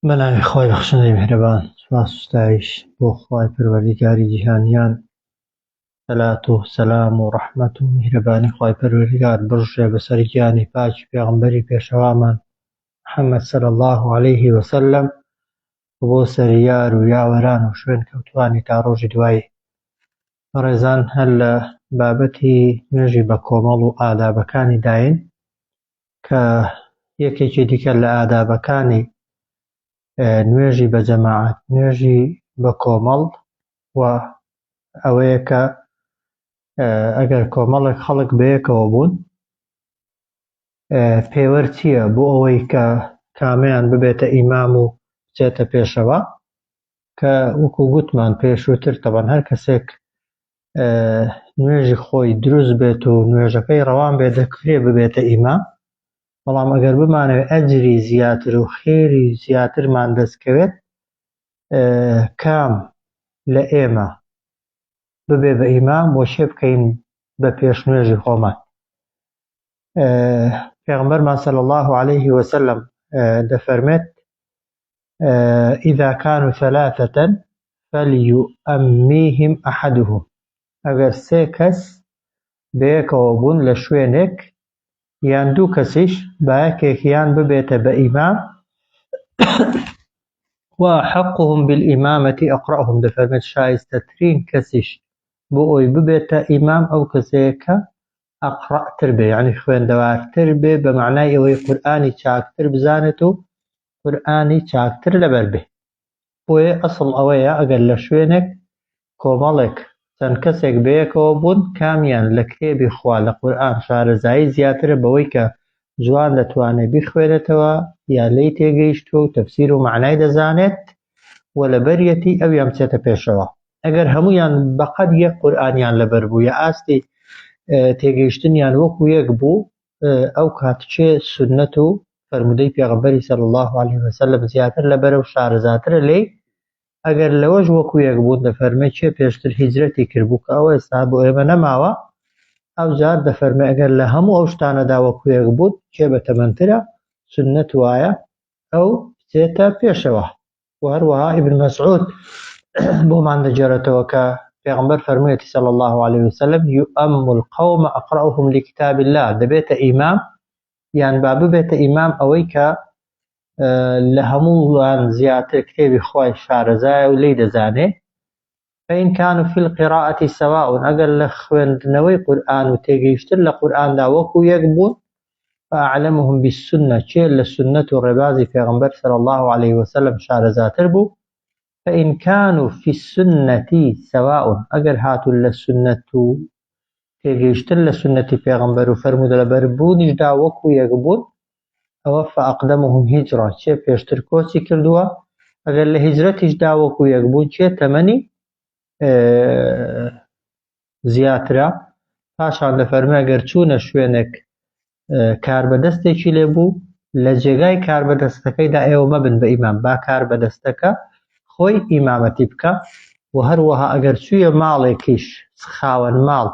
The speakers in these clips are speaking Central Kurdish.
بەناوی خوای بەخشندەی میهرەبان سوپاس و ستایش بۆ خوای پەروەردیگاری جیهانیان سەلات و سەلام و ڕەحمەت و میهرەبانی خوای پەروەردیگار بڕژێ بەسەر گیانی پاکی پێغەمبەری پێشەوامان محەممەد صلی الله عليه وسلم و بۆ سەریار و یاوەران و شوێن کەوتوانی تا ڕۆژی دوایی بەڕێزان هەر لە بابەتی نوێژی بە کۆمەڵ و ئادابەکانی داین کە یەکێکی دیکە لە ئادابەکانی نوێژی بە جەماعەت نوێژی بە کۆمەڵ و ئەوەیە کە ئەگەر کۆمەڵێک خەڵک بەیەکەوە بوون پێوەر چییە بۆ ئەوەی کە کامیان ببێتە ئیمام و بچێتە پێشەوە کە وەکو گوتمان پێشووتر تەبەن هەر کەسێک نوێژی خۆی دروست بێت و نوێژەکەی ڕەوان بێت دەکرێ ببێتە ئیمام بەڵام ئەگەر بمانەوێت ئەجری زیاتر و خێری زیاترمان دەستکەوێت کام لە ئێمە ببێ بە ئیمام بۆ شێ بکەین بە پێش نوێژی خۆمان پێغمبەرمان سەل الله عليه وسلم دەفەرمێت اذا كانوا ثلاثة فليؤمیهم احدهم ئەگەر سێ کەس بەیەکەوە بوون لە شوێنێک یان دوو کەسیش با یەکێکیان ببێتە بە ئیمام وأحقهم بالإمامة أقرأهم دەفەرمێت شایستەترین کەسیش بۆ ئەوی ببێتە ئیمام ئەو کەسەیە کە ئەقڕەتر بێ یعنی خوێندەوارتر بێ بە معنای ئەوەی قورئانی چاکتر بزانێت و قورئانی چاکتر لەبەر بێ بۆیە ئەسڵ ئەوەیە ئەگەر لە شوێنێک کۆمەڵێک چەند کەسێک بەیەکەوە بوون کامیان لە کتێبی خوا لە قورئان شارەزایی زیاترە بەوەی کە جوان دەتوانێ بیخوێنێتەوە یا لێی تێگەیشتووە و تەفسیر و مەعنای دەزانێت و لەبەریەتی ئەویان بچێتە پێشەوە ئەگەر هەمویان بەقەد یەک قورئانیان لەبەر بوو یا ئاستی تێگەیشتنیان وەکو یەک بوو ئەو کات چێ سنەت و فەرمودەی پێغەمبەری صلی الله علیه وسلم زیاتر لە بەرە و شارەزاترە لێی ئەگەر لەوەش وەکو یەک بوون دەفەرمێ چێ پێشتر هیجرەتی کردبوو کە ئەوە ئێستا بۆ ئێمە نەماوە ئەو جار دەفەرمێ ئەگەر لە هەموو ئەو شتانەدا وەکو یەک بوون چێ بە تەمەندترە سنەت وایە ئەو بچێتە پێشەوە و هەروەها ابن مسعود بۆمان دەگێڕێتەوە کە پێغمبەر فەرموویەتی صلی الله عليه وسلم یؤم القوم اقرأهم لكتاب الله دەبێتە ئیمام یان با ببێتە ئیمام ئەوەی کە لە هەمووان زیاتر کتێبی خی شارەزایە و لی دەزانێ فان کانوا فی القراءة سواء ئەگەر لە خوێندنەوەی قورئان و تێگەیشتن لە قورئاندا وەکو یەک بوون فاعلمهم بالسنە کێ لە سوننەت و ڕێبازی پێغەمبەر صلی اللە علیە وسلم شارەزاتر بوو فان کانوا فی السنە سواء ئەگەر هاتوون لە سوننەت و تێگەیشتن لە سوننەتی پێغەمبەر و فەرموودەلەبەربوونیشدا وەکو یەک بوون ئەوە فاقدمهم هجرا کێ پێشتر کۆچی کردووە ئەگەر لە هیجرەتیشدا وەکو یەک بوو کێ تەمەنی زیاترە پاشان دەفەرمە گەر چوونە شوێنێک کاربەدەستێکی لێ بوو لە جێگای کاربەدەستەکەیدا ئێوە مەبن بە ئیمام با کار بەدەستەکە خۆی ئیمامەتی بکە و هەروەها ئەگەر چوویە ماڵێکیش خاوەن ماڵ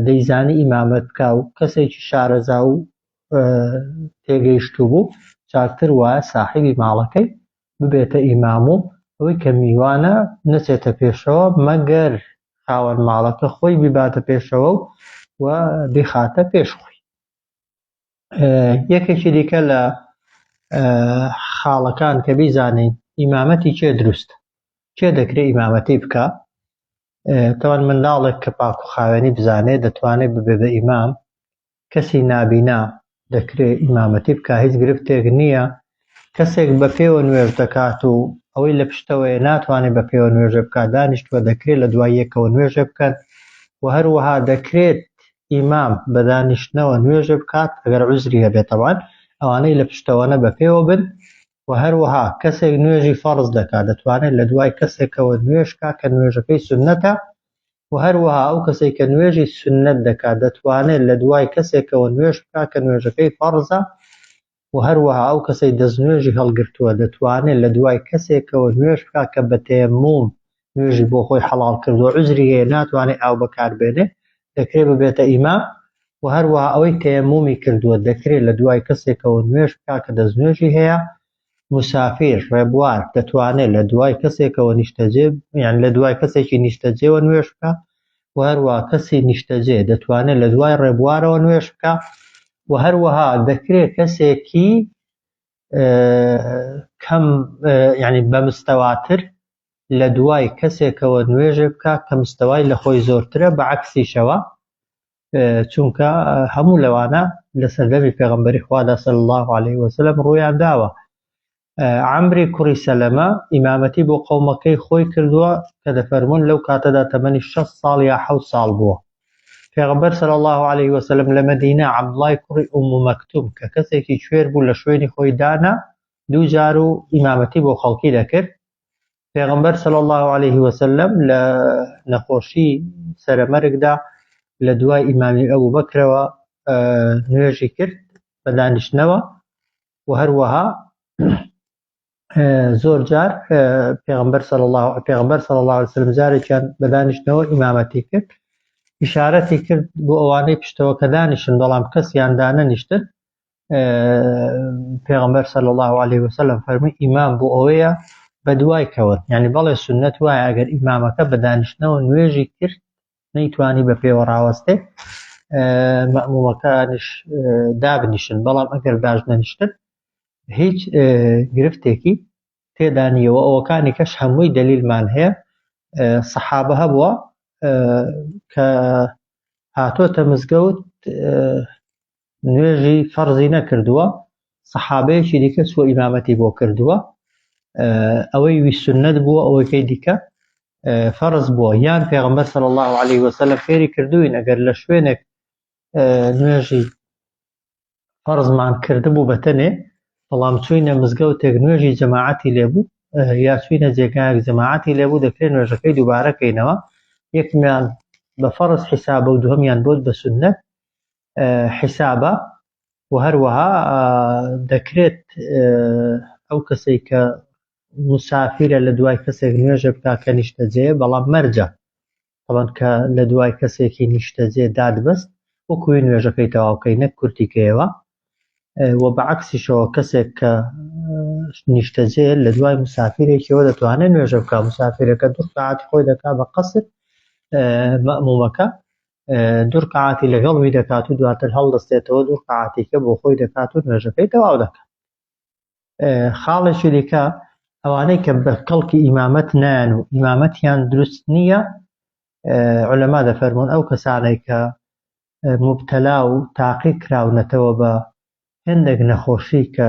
دەیزانی ئیمامەت بکا و کەسێکی شارەزا و تێگەیشتوو بوو چاکتر وایە ساحیبی ماڵەکەی ببێتە ئیمام و ئەوەی کە میوانە نەچێتە پێشەوە مەگەر خاوەن ماڵەکە خۆی بیباتە پێشەوە و و بیخاتە پێش خۆی یەکێکی دیکە لە خاڵەکان کە بیزانین ئیمامەتی چێ دروست چێ دەکرێت ئیمامەتی بکە تەوان منداڵێک کە پاک و خاوێنی بزانێ دەتوانێ ببێ بە ئیمام کەسی نابینا دەکرێ ئیمامەتی بکا هیچ گرفتێک نییە کەسێک بە پێوە نوێژ دەکات و ئەوەی لە پشتەوەی ناتوانێت بە پێوە نوێژە بکات دانیشتووە دەکرێت لە دوای یەکەوە نوێژە بکەن و هەروەها دەکرێت ئیمام بە دانیشتنەوە نوێژە بکات ئەگەر عزری هەبێتەوان ئەوانەی لە پشتەوەە بە پێوە بن وە هەروەها کەسێک نوێژی فەڕز دەکات دەتوانێت لە دوای کەسێکەوە نوێژ بکات کە نوێژەکەی سوننەتە، وە هەروەها ئەو کەسەی کە نوێژی سوننەت دەکات دەتوانێت لە دوای کەسێکەوە نوێژ بکات کە نوێژەکەی فەڕزە، وە هەروەها ئەو کەسەی دەستنوێژی هەڵگرتووە دەتوانێت لە دوای کەسێکەوە نوێژ بکات کە بە تەیەموم نوێژی بۆ خۆی حەڵاڵ کردووە عوزری هەیە ناتوانێت ئاو بەکار بێنێ دەکرێت ببێتە ئیمام و هەروەها ئەوەی تەیەمومی کردووە دەکرێت لە دوای کەسێکەوە نوێژ بکا کە دەستنوێژی هەیە مسافیر ڕێبوار دەتوانێت لە دوای کەسێکەوە نیشتەجێ یان لە دوای کەسێکی نیشتەجێەوە نوێش بکە و هەروە کەسی نیشتەجێ دەتوانێت لە دوای ڕێبوارەوە نوێش بکە و هەروەها دەکرێت کەسێکی کەم یعنی بە مستەواتر لە دوای کەسێکەوە نوێژێ بکە کە مستەوای لە خۆی زۆرترە بە عکسیشەوە چونکە هەموو لەوانە لە سەردەمی پێغمبەری خوادا سەل الله عليه وسلم ڕویان داوە ئەمری کوڕی سەلەمە ئیمامەتی بۆ قەومەکەی خۆی کردووە کە دەفەرمونون لەو کاتەدا تەمەنی 6 ساڵ یا حە ساڵ بووە پێغەمبەر صلی اللە علیە وسلم لە مەدینە عەبدوڵای کوڕی ئوم مەکتوم کە کەسێکی کوێر بوو لە شوێنی خۆی دانا دوو جار و ئیمامەتی بۆ خەڵکی دەکرد پێغەمبەر صلی اللە علیه وسلم لە نەخۆشی سەرەمەرگدا لە دوای ئیمامی ئەبوو بەکرەوە نوێژی کرد بە دانیشتنەوە و هەروەها زۆر جار پێغمبەر سەڵ الله پێغمبەر سەڵ الله وسلم جارێکیان بەدانیشتنەوە ئیمامەتی کرد ئشارەتی کرد بۆ ئەوانەی پشتەوە کە دانیشن بەڵام کەسیان دانەنیشتن پێغمبەر سەل الله عليه وسلم فەرمی ئیمام بۆ ئەوەیە بە دوای کەوت ینی بەڵێ سنت وایە ئەگەر ئیمامەکە بە دانیشتنەوە نوێژی کرد نەیتوانی بە پێوە ڕاوەستێت مەمومەکانش دابنیشن بەڵام ئەگەر باش نەنیشتن هیچ گرفتێکی تێدانیەوە ئەوەکانی کەش هەمووی دەلیلمان هەیە سەحابە هەبووە کە هاتۆتە مزگەوت نوێژی فەرزی نەکردووە سەحابەیەکی دیکە چوە ئیمامەتی بۆ کردووە ئەوەی ویسنەت بووە ئەوەکەی دیکە فەرز بووە یان پێغمبەر سەر الله عليه وسلم فێری کردوین ئەگەر لە شوێنێک نوێژی فەرزمان کردبوو بەتەنێ بەڵام چوینە مزگەوتێک نوێژی جەماعەتی لێبوو یا چوینە جێگایەک جەماعەتی لێبوو دەکرێت نوێژەکەی دووبارەکەینەوە یەکمیان بە فەرز حیسابە و دوهمیان بۆت بە سنت حیسابە و هەروەها دەکرێت ئەو کەسەی کە مسافرە لە دوای کەسێک نوێژە بکە کە نیشتەجێ بەڵام مەرجە ئەوەن کە لە دوای کەسێکی نیشتەجێ دادبست وەکوێ نوێژەکەی تەواوکەی نەک کورتیکەیەوە و بەعکسیشەوە کەسێک کە نیشتەجێ لە دوای مسافرێکیەوە دەتوانێت نوێژە بکە مسافرەکە دوو ساعت خۆی دەکا بە قەسر مەمومەکە دوو رکعاتی لەگەڵوی دەکات و دواتر هەڵدەستێتەوە دوو رکعاتیکە بۆ خۆی دەکات و نوێژەکەی تەواو دەکات خاڵێکی دیکە ئەوانەی کە بە کەڵکی ئیمامەت نان و ئیمامەتیان دروست نییە علەما دەفەرمونون ئەو کەسانێک کە مبتەلا و تاقی کراونەتەوە بە هێندێک نەخۆشی کە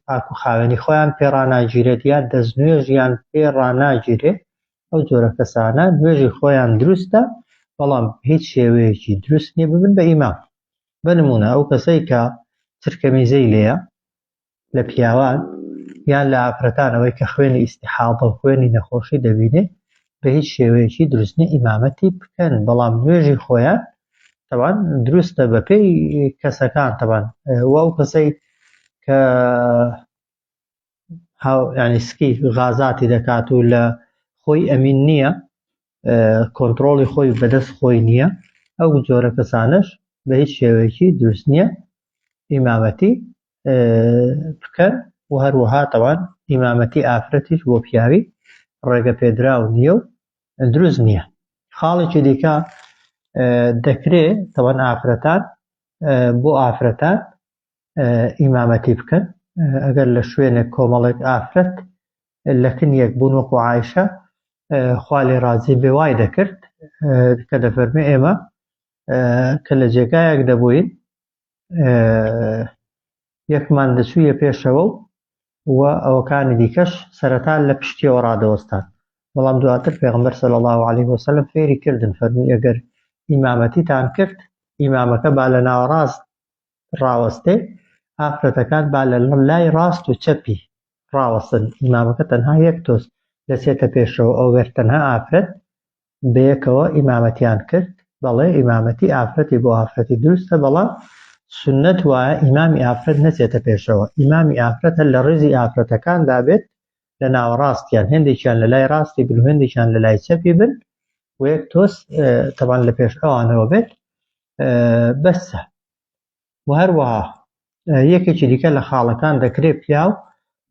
پاک و خاوێنی خۆیان پێ ڕناگیرێت یا دەستنوێژیان پێ ڕناگیرێت ئەو جۆرە کەسانە نوێژی خۆیان دروستە بەڵام هیچ شێوەیەکی دروست نیە ببن بە ئیمام بە نمونە ئەو کەسەی کە ترکەمیزەی لێە لە پیاوان یان لە ئافرەتانەوەی کە خوێنی ئیسیحاڵ بە خوێنی نەخۆشی دەبینێ بەهیچ شێوەیەکی دروست نیە ئیمامەتی بکەن بەڵام نوێژی خۆیان تەوان دروستە بەپێی کەسەکان تەوان و ئەو کەسەی کە ینی سکی غازاتی دەکات و لە خۆی ئەمین نییە کۆنتترۆڵی خۆی بەدەست خۆی نییە ئەو جۆرە کەسانش بە هیچ شێوەیەکی دروست نییە ئیمامەتی بکەن و هەروەها تەوان ئیمامەتی ئافرەتیش بۆ پیاوی ڕێگە پێدراو نییە و دروست نییە خاڵێکی دیکە دەکرێ تەوان ئافرەتان بۆ ئافرەتان ئیمامەتی بکەن ئەگەر لە شوێنێک کۆمەڵێک ئافرەت لە کنیەک بوون وەکو عیشە خوا لێ ڕازی بێ وای دەکرد کە دەفەرمێ ئێمە کە لە جێگایەک دەبووین یەکمان دەچوویە پێشەوە و و ئەوەکانی دیکەش سەرەتا لە پشتیەوە ڕادەوەستان بەڵام دواتر پێغمبەر سەل الله عليه وسلم فێری کردن فەرمی ئەگەر ئیمامەتیتان کرد ئیمامەکە با لە ناوەڕاست ڕاوەستێ ئافرەتەکان با لە لای ڕاست و چەپی ڕاوەستن ئیمامەکە تەنها یەک تۆز دەچێتە پێشەوە ئەوگەر تەنها ئافرەت بەیەکەوە ئیمامەتیان کرد، بەڵێ ئیمامەتی ئافرەتی بۆ ئافرەتی دروستە بەڵام سوننەت وایە ئیمامی ئافرەت نەچێتە پێشەوە ئیمامی ئافرەت هەر لە ڕیزی ئافرەتەکاندا بێت لە ناوەڕاستیان هێندێکیان لە لای ڕاستی بن و هێندێکیان لە لای چەپی بن و یەک تۆز تەبان لە پێش ئەوانەوە بێت بەسە و هەروەها یەکێکی دیکە لە خاڵەکان دەکرێت پیاو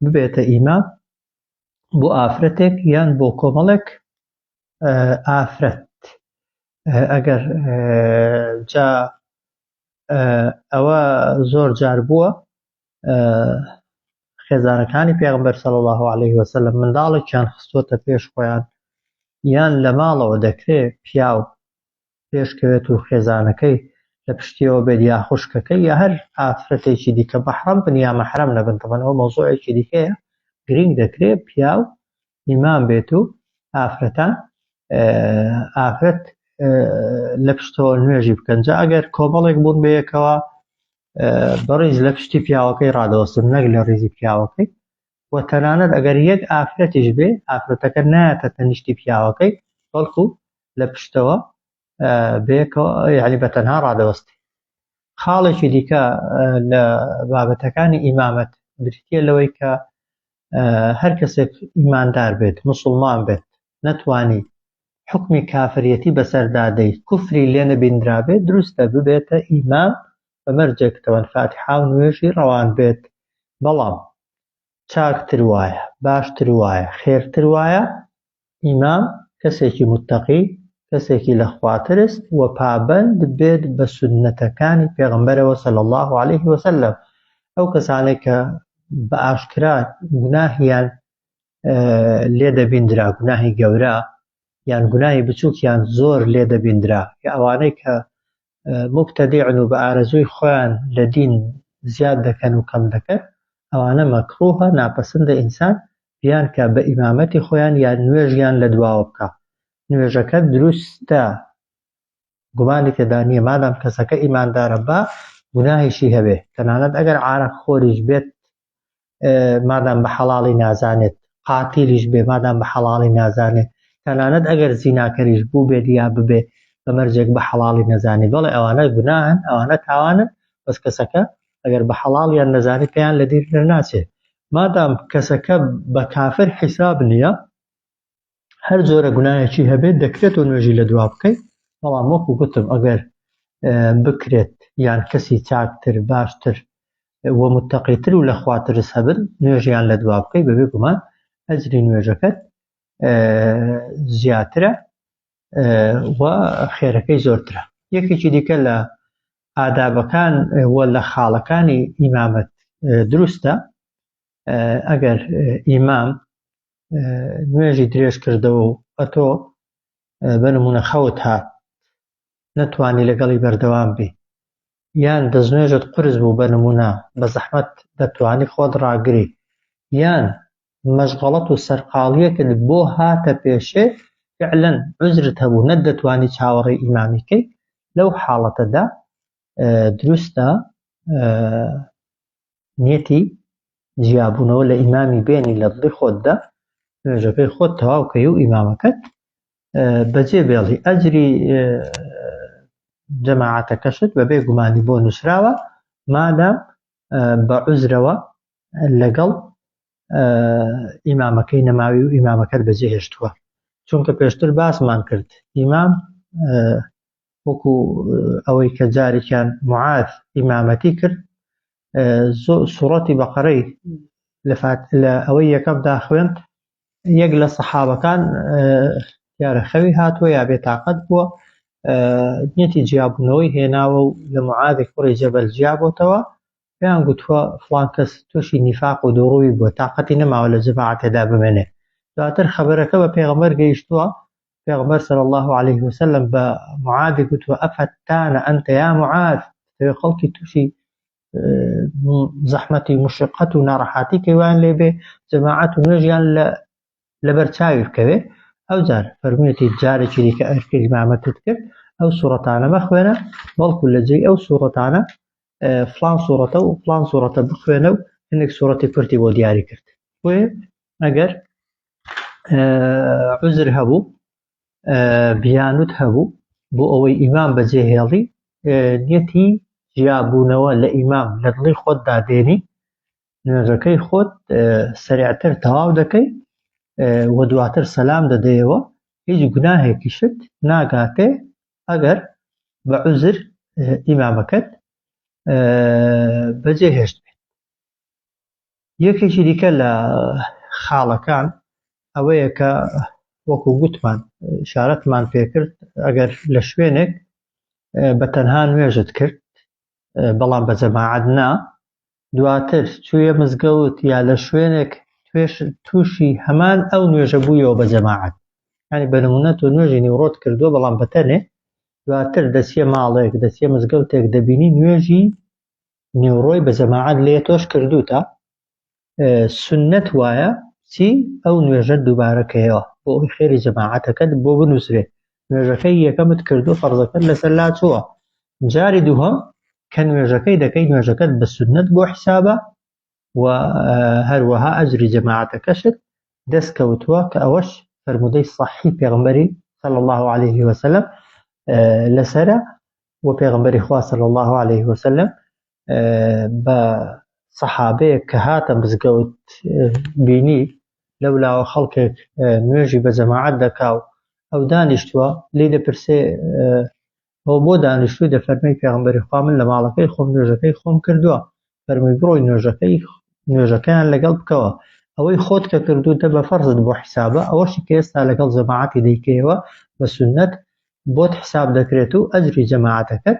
ببێتە ئیمام بۆ ئافرەتێک یان بۆ کۆمەڵێک ئافرەت ئەگەر جا ئەوە زۆر جار بووە خێزانەکانی پێغمبەر سەڵ الله عليه وسلم منداڵێکیان خستۆتە پێش خۆیان یان لە ماڵەوە دەکرێت پیاو پێشکەوێت و خێزانەکەی لە پشتیەوە بێت یا خوشکەکەی یا هەر ئافرەتێکی دیکە مەحرەم بن یا مەحرەم نەبن تەبەن ئەوە مەوزوعێکی دیکەیە گرنگ دەکرێت پیاو ئیمام بێت و ئافرەتان ئافرەت لە پشتەوە نوێژی بکەن جا ئەگەر کۆمەڵێک بوون بەیەکەوە بەڕیز لە پشتی پیاوەکەی ڕادەوەستن نەک لە ڕیزی پیاوەکەی و تەنانەت ئەگەر یەک ئافرەتیش بێ ئافرەتەکە نایەتە تەنیشتی پیاوەکەی بەڵکو لە پشتەوە بێکەوە یعنی بە تەنها ڕادەوەستی خاڵێکی دیکە لە بابەتەکانی ئیمامەت بریتە لەوەی کە هەر کەسێک ئیماندار بێت مسلمان بێت نەتوانی حکمی کافریەتی بەسەردادەی کوفری لێ نەبیندرابێت دروستە ببێتە ئیمام بە مەرجێک تەوەن فاتیحا و نوێژی ڕەوان بێت، بەڵام چاکتر وایە، باشتر وایە، خێرتر وایە ئیمام کەسێکی متەقی، کەسێکی لە خوا ترس و پابەند بێت بە سوننەتەکانی پێغەمبەرەوە صلی اللە علیه و سلم، ئەو کەسانەی کە بە ئاشکرا گوناهیان لێ دەبیندرا، گوناهی گەورە یان گوناهی بچووکیان زۆر لێ دەبیندرا، کە ئەوانەی کە موبتەدیعن و بە ئارەزووی خۆیان لە دین زیاد دەکەن و کەم دەکەن ئەوانە مەکڕووهە ناپەسندە ئینسان بیان کا بە ئیمامەتی خۆیان یا نوێژیان لە دواوە بکا نوێژەکە دروستە گومانی تێدا نییە مادام کەسەکە ئیماندارە با گوناهیشی هەبێ تەنانەت ئەگەر عارەق خۆریش بێت مادام بە حەڵاڵی نازانێت قاتیلیش بێ مادام بە حەڵاڵی نازانێت تەنانەت ئەگەر زیناکەریش بوو بێت یا ببێ بە مەرجێک بە حەڵاڵی نەزانانی بەڵێ ئەوانە گوناهن ئەوانە تاوانن بەس کەسەکە ئەگەر بە حەڵاڵیان نەزانی پێیان لە دیر ناچێت مادام کەسەکە بە کافر حیساب نییە هەر جۆرە گوناهێکی هەبێت دەکرێت و نوێژی لە دوا بکەیت بەڵام وەکو گوتم ئەگەر بکرێت یان کەسی چاکتر باشتر وە متتەقیتر و لە خواترس هەبن نوێژیان لە دوا بکەیت بەبێ گومان ئەجری نوێژەکەت زیاترە و خێرەکەی زۆرترە یەکێکی دیکە لە ئادابەکان وە لە خاڵەکانی ئیمامەت دروستە ئەگەر ئیمام نوێژی درێژ کردەوە و ئەتۆ بەنمونە خەوت هات نەتوانی لەگەڵی بەردەوام بی یان دەستنوێژت قرس بوو بە نمونە بە زەحمەت دەتوانی خۆت ڕاگری یان مەشغەڵەت و سەرقاڵیەکت بۆ هاتە پێشێ فعلەن عزرت هەبوو نەت دەتوانی چاوەڕێ ئیمامیکەی لەو حاڵەتەدا دروستە نیەتی جیابوونەوە لە ئیمامی بێنی لە دڵی خۆتدا نوێژەکەی خۆت تەواوکەی و ئیمامەکەت بەجێ بێڵی ئەجری جەماعاتەکەشت بە بێ گومانی بۆ نووسراوە مادام بە عزرەوە لەگەڵ ئیمامەکەی نەماوی و ئیمامەکەت بەجێ هێشتووە چونکە پێشتر باسمان کرد ئیمام وەکو ئەوەی کە جارێکیان معاذ ئیمامەتی کرد سوڕەتی بەقەرەی لە ئەوەی یەکەمدا خوێند یەک لە سەحابەکان دیارە خەوی هاتووە یا بێتاقەت بووە نیەتی جیابوونەوەی هێناوە و لە معاذی کوڕی جەبەل جیابەتەوە پێیان گوتووە فڵان کەس تووشی نیفاق و دوڕووی بووە تااقەتی نەماوە لە جەماعەتێدا بمێنێ دواتر خەبەرەکە بە پێغەمەر گەیشتووە پێغەمبەر صلی اللە علیه وسلم بە معاذ گوتوە ئەفەتان ئەنت یا معاذ تەوێ خەڵکی تووشی زەحمەتی مشقەت و ناڕەحاتی کەوان لێبێ جەماعەت و نوێژیان لە لەبەر چاوی بکەوێ ئەو جار فەرموویەتی جارێکی دیکە ئەرکە ئیمامەتت کرد ئەو سوڕەتانە مەخوێنە بەڵکو لە جێی ئەو سوڕەتانە فلان سوڕەتە و فلان سوڕەتە بخوێنە و هەندێک سوڕەتی کورتی بۆ دیاری کرد بۆێ ئەگەر عزر هەبوو بیانوت هەبوو بۆ ئەوەی ئیمام بەجێ هێڵی نیەتی جیابوونەوە لە ئیمام لە دڵی خۆت دادێنی نوێژەکەی خۆت سریعتر تەواو دەکەی وە دواتر سەسلام دەدەیەوە هیچ گوناهێکیشت ناگاتێ ئەگەر بە عوزر ئیمامەکەت بەجێ هێشت بێت یەکێکی دیکە لە خاڵەکان ئەوەیە کە وەکو گوتمان شارەتمان پێکرد ئەگەر لە شوێنێک بە تەنها نوێژت کرد بەڵام بە جەماعەت نا دواتر چوویە مزگەوت یا لە شوێنێک توێش تووشی هەمان ئەو نوێژە بوویەوە بە جەماعەت ینی بە نمونە تۆ نوێژی نیوڕۆت کردووە بەڵام بەتەنێ دواتر دەچیە ماڵێک دەچیە مزگەوتێک دەبینی نوێژی نیوڕۆی بە جەماعەت لێ تۆش کردوتە سنت وایە چی ئەو نوێژە دووبارەکەیەوە بۆ ئەوی خێری جەماعەتەکەت بۆ بنووسرێ نوێژەکەی یەکەمت کردو فەرزەکەت لەسەر لا چووە جاری دووهەم کە نوێژەکەی دەکەی نوێژەکەت بە سونەت بۆ حیسابە و هەروەها ئەجری جەماعەتەکەشت دەست کەوتووە کە ئەوەش فەرمودەی صحی پێغمبەری صلى الله عليه وسلم لەسرە و پێغمبەری خوا صلى الله عليه وسلم بە سەحابەیەک کە هاتە مزگەوت بینی لەو لاوە خەڵکێک نوێژی بە جەماعەت دەکا و ئەو دانیشتووە لی دەپرسێ ئەو بۆ دانیشتووی دەفەرمی پێغمبەری خوا من لە ماڵەکەی خۆم نوێژەکەی خۆم کردووە فەرمووی بڕۆی نوێژەکەی نوێژەکەیان لەگەڵ بکەوە ئەوەی خۆت کە کردو دە بە فەرزت بۆ حیسابە ئەوەشی کە ئێستا لەگەڵ جەماعەتی دەیکەیەوە بە سنت بۆت حساب دەکرێت و ئەجری جەماعەتەکەت